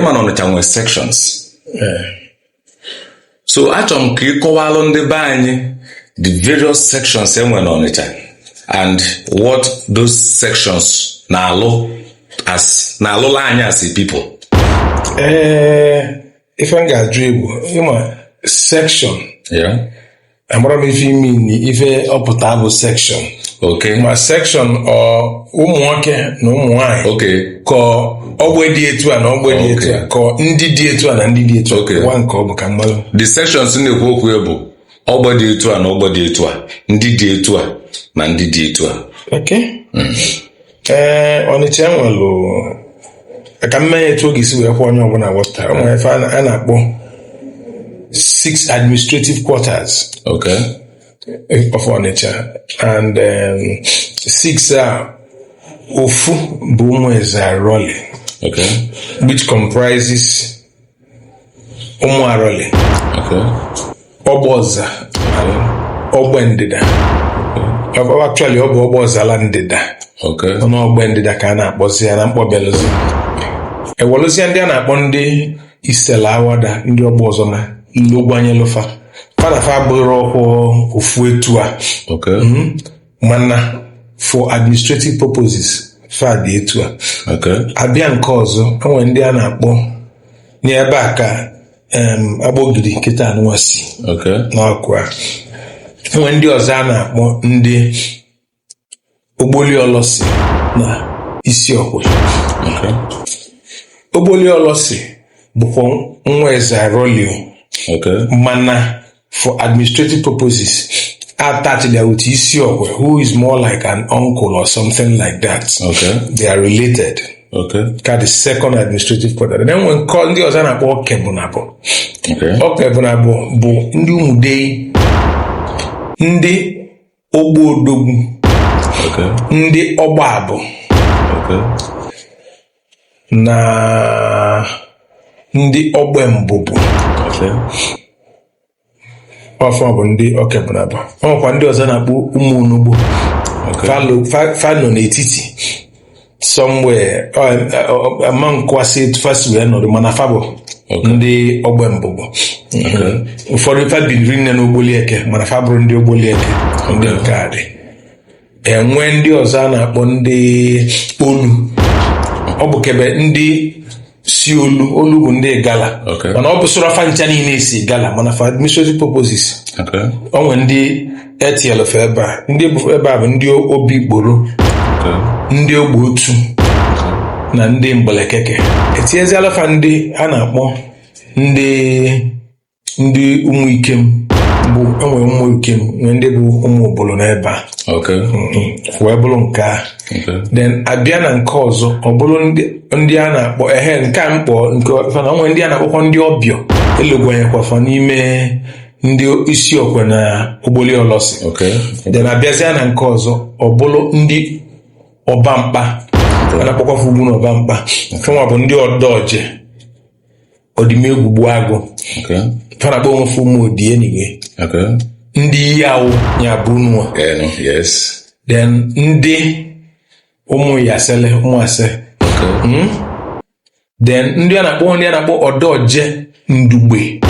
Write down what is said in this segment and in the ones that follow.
ịma na ọnịcha nwere sections eh. so achọrọ m ka ị kọwalụ ndị be anyị the various sections e nwere n'ọnịcha and what those sections na-alụ as na-alụlụ anyị as a people ee eh, ife m ga-ajụ ị bụ ma section amarọ m ife ị mean ife ọ pụta bụ section ok ma section ọ ụmụ nwoke na ụmụ nwaanyị ok ka ogbe dị etu a na ogbe dị etu a ka ndị dị etu a na ndị dị etu a Okay. gwa m nke ọ bụ ka m malụ the sections na-ekwu okwu ya bụ ogbe dị etu a na ogbe dị etu a ndị dị etu a na ndị dị etu a okay ee ọnịcha enwelụ ka m mee etu ọ ga-esi wee kwe onye ọbụna wọta o nwere ife a na- a na-akpọ six administrative quarters Okay. of ọnịcha and um, six a ofu bụ ụmụ eze arọli Okay. which comprises ụmụ arọlị ogbe ọza ogbe ndịda actually ọ bụ ogbe ọzala ndịda ọnụ ogbe ndịda ka a na-akpọzi ya na mkpọbelụzi e nwelụzie ndị a na-akpọ ndị isela awada ndị ogbe ọzọma ndị ogwanyelụ fa fa na fa bụrụ ọkwụ ofu etu a mana for administrative purposes fa dị etu a Okay. a bịa nke ọzọ enwere ndị a na-akpọ n'ebe a ka em, agbọgiri nkịta anụwa si Okay. n'ọkụ a enwere ndị ọzọ a na-akpọ ndị ogboli olosi na isi okwe Okay. ogboli olosi bụkwa nwa eze aroli o Okay. mana for administrative purposes attach ya with Isiokwe, who is more like an uncle or something like that. Okay. They are related. Okay. Ka the second administrative quarter. Then enwe nke ndị ọzọ a na-akpọ Okebunabo. Okay. Okebunabo bụ ndị Umudei, ndị ogbe odogwu ndị ogbe abu na ndị ogbe mbubu ọ fa bụ ndị okebunabo o nwekwa ndị ọzọ a na-akpọ ụmụ onugbo fa nọ n'etiti somewhere ama nkwasị etu fa si wee nọdụ mana fa bụ ndị ogbe mbubu ụfọdụ fa biri nne n'ogboli eke mana fa abụrọ ndị ogboli eke ndị nke a dị enwe ndị ọzọ a na-akpọ ndị olu ọ bụ kebe ndị si olu olu bụ ndị Igala Okay. mana ọ bụsịrọ fa ncha niile si Igala mana for administrative purposes Okay. o nwere ndị etinyelu fa ebe a ndị bụ ebe a bụ ndị obikporo Okay. ndị ogbe otu na ndị mgbelekeke etinyezialụ fa ndị a na-akpọ ndị ndị ụmụ ikem bụ enwe ụmụ ikem nwee ndị bụ ụmụ ubulu n'ebe a Okay. Mhm. wee bụrụ nke a Okay. then abịa na nke ọzọ ọ bụrụ ndị- ndị a na-akpọ ehe nke a mkpọ nke ọfa na o nwe ndị a na-akpọkwa ndị ọbịọ elugwanyekwa fa n'ime ndị isi okwe na ogboli olosi Okay. then abịazịa na nke ọzọ ọ bụrụ ndị ọba mkpa a na-akpọkwa fa ugwu na ọba mkpa fa nwa bụ ndị ọdọje ọdịmegwu gbuagụ Okay. fa na-akpọ onwe fa ụmụ ọdị n'igwe Okay. ndị iyi awụ ya bụ nwa Enu. Yes. then ndị ụmụ iyasele ụmụ ase Okay. then ndị a na-akpọ ndị a na-akpọ ọdọje ndugbe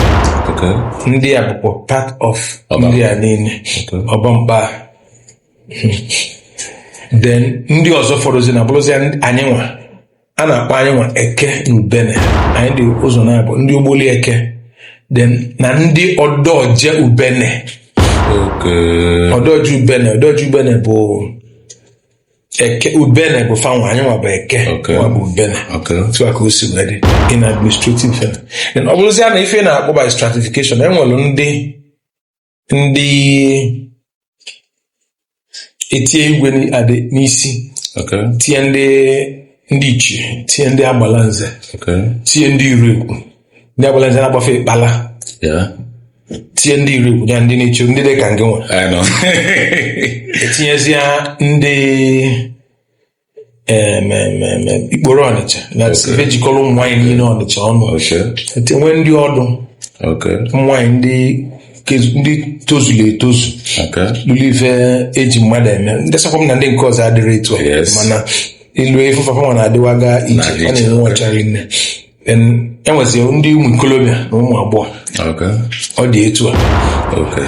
Okay. ndị a bụkwa part of Ọba. ndị a niile Okay. ọba mkpa then ndị ọzọ fọdụzịnụ abụrụzịa anyị nwa a na-akpọ anyị nwa eke na ubene anyị dị ụzọ naabọ ndị ogboli eke then na ndị ọdọje ubene Okay. ọdọje ubene ọdọje ubene bụ eke ubene bụ fa nwa anyị nwa bụ eke Okay. nwa bụ ubene Okay. otu a ka o si wee dị in administrative fela then ọ bụrụzịa n'ife a na-akpọ by stratification enwere ndị ndị etinye igwe nya adị n'isi Okay. tinye ndị ndị ichie tinye ndị agbala nze Okay. tinye ndị iregwu ndị agbala nze a na-akpọ fa ịkpala Yeah. tinye ndị iregwu ya ndị na-echi ndị dị ka ngị nwa I know. etinyezia ndị em, em, em, em, ikporo ọnịcha na Okay. ife jikọrọ ụmụ nwaanyị niile ọnịcha ọnụ Okay. Ete- nwee ndị ọdụ Okay. ụmụ nwaanyị ndị kezu- ndị tozuru etozu Okay. luru ife eji mmadụ eme ndị sakwa m na ndị nke ọzọ adịrọ etu a Yes. mana ilu efe fa fa nwa na-adịwaga iche Na-adị a iche, na-enwe ọchara nne enwezi ndị ụmụ ikolobịa na ụmụ agbọghọ Okay. ọ dị etu a Okay.